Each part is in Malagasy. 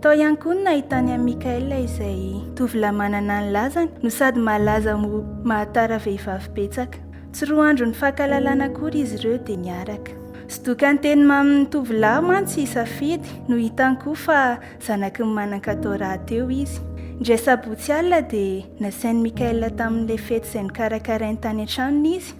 Tao ihany koa no nahitany an'i Michael izay tovolahy manana ny lazany no sady malaza ho mahatara vehivavy betsaka. Tsy roa andro nifankahalalana akory izy ireo dia niaraka. Zodokan'ny teny mamin'ny tovolahy mantsy i Safidy no hitany koa fa zanaky ny manan-katao rahateo izy. Indray sabotsy alina dia nasain'i Michael tamin'ilay fety izay nokarakarainy tany an-tranony izy.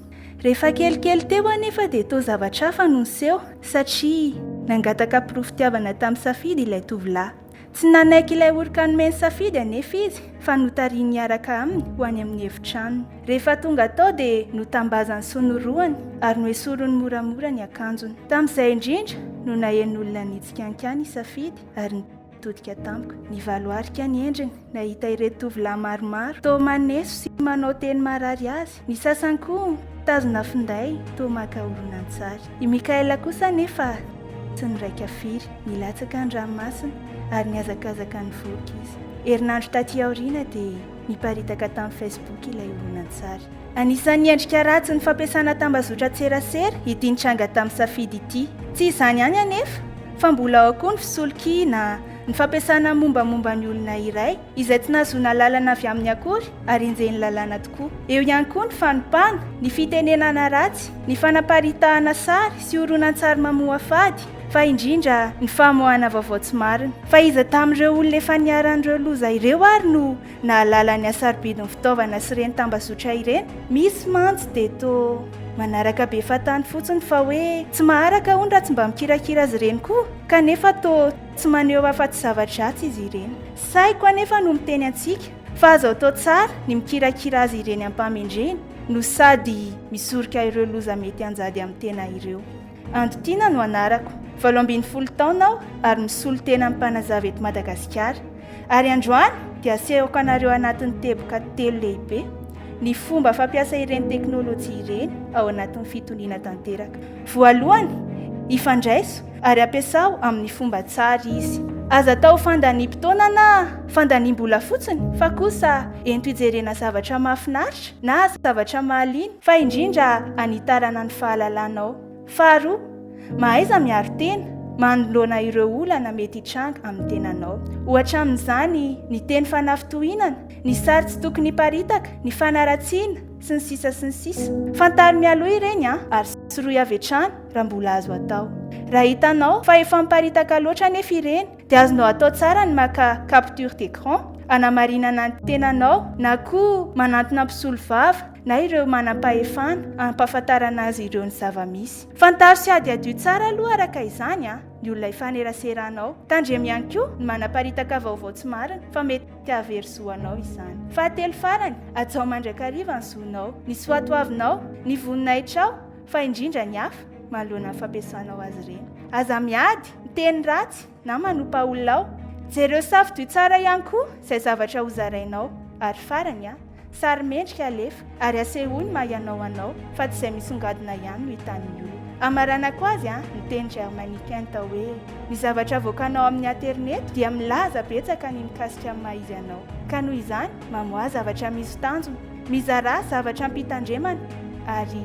Rehefa kelikely teo anefa dia toa zavatra hafa no niseho satria nangataka porofom-pitiavana tamin'i Safidy ilay tovolahy. Tsy nanaiky ilay oroka nomen'i Safidy anefa izy fa notarihiny hiaraka aminy ho any amin'ny efitranony. Rehefa tonga tao dia notambazany sy norohany ary noesoriny moramora ny akanjony. Tamin'izay indrindra no nahen'olona nitsikankany i Safidy ary Nitodika tamiko ny valo arika ny endriny, nahita ireto tovolahy maromaro toa maneso sy manao teny marary azy, ny sasany koa mitazona finday toa maka horonantsary. I Mikaela kosa anefa tsy niraika firy, nilatsaka ny ranomasina ary nihazakazaka nivoaka izy. Herinandro taty aoriana dia niparitaka tamin'ny Facebook ilay horonantsary. Anisan'ny endrika ratsy ny fampiasana tambazotran-tserasera ity nitranga tamin'ny safidy ity. Tsy izany ihany anefa fa mbola ao koa ny fisolokiana, ny fampiasana ny mombamomba ny olona iray izay tsy nahazoana alalana avy aminy akory ary enjehin'ny lalàna tokoa. Eo ihany koa ny fanompana, ny fitenenana ratsy, ny fanaparitahana sary sy horonantsary mamoafady, fa indrindra ny famoahana vaovao tsy marina. Fa iza tamin'ireo olona efa niharan'ireo loza ireo ary no Nahalala ny hasarobidin'ny fitaovana sy ireny tambazotra ireny. Misy mantsy dia toa manaraka be fahatany fotsiny fa hoe tsy maharaka hono raha tsy mba mikirakira azy ireny koa, kanefa toa tsy maneho afa-tsy zava-dratsy izy ireny. Saiko anefa no miteny antsika fa azo atao tsara ny mikirakira azy ireny am-pahamendreny no sady misoroka ireo loza mety hanjady amin'ny tena ireo. Anditiana no anarako. Valo ambin'ny folo taona aho ary misolo tena amin'ny mpanazava eto Madagasikara. Ary androany dia asehoko anareo anatin'ny teboka telo lehibe ny fomba fampiasa ireny teknolojia ireny ao anatin'ny fitoniana tanteraka. Voalohany, ifandraiso ary ampiasao amin'ny fomba tsara izy. Aza atao fandaniam-potoana na fandaniam-bola fotsiny fa kosa ento hijerena zavatra mahafinaritra na zavatra mahaliana. Fa indrindra hanitarana ny fahalalanao. Faharoa, mahaiza miaro tena manoloana ireo olana mety hitranga amin'ny tenanao. Ohatra amin'izany ny teny fanafintohinana, ny sary tsy tokony hiparitaka, ny fanaratsiana, sy ny sisa sy ny sisa. Fantaro mialoha ireny an, ary sorohy avy hatrany raha mbola azo atao. Raha hitanao fa efa miparitaka loatra anefa ireny, dia azonao atao tsara ny maka capture d'écran hanamarinana ny tenanao na koa manantona mpisolovava na ireo manam-pahefana hampahafantarana azy ireo ny zava-misy. Fantaro sy hadihadio tsara aloha araka izany ny olona ifaneraseranao. Tandremo ihany koa ny manaparitaka vaovao tsy marina fa mety hahavery zo anao izany. Fahatelo farany, hajao mandrakariva ny zonao, ny soatoavinao, ny voninahitrao fa indrindra ny hafa manoloana ny fampiasanao azy ireny. Aza miady! Miteny ratsy na manompa olona aho. Jereo safidio tsara ihany koa izay zavatra hozarainao. Ary farany a, sary mendrika alefa ary asehoy ny maha ianao anao fa tsy izay misongadina ihany no hitan'ny olona. Hamaranako azy a, ny teny Germany Kent hoe ny zavatra avoakanao amin'ny aterineto dia milaza betsaka ny mikasika ny maha izy anao. Ka noho izany, mamoaha zavatra misy tanjona, mizarà zavatra ampitandremana ary.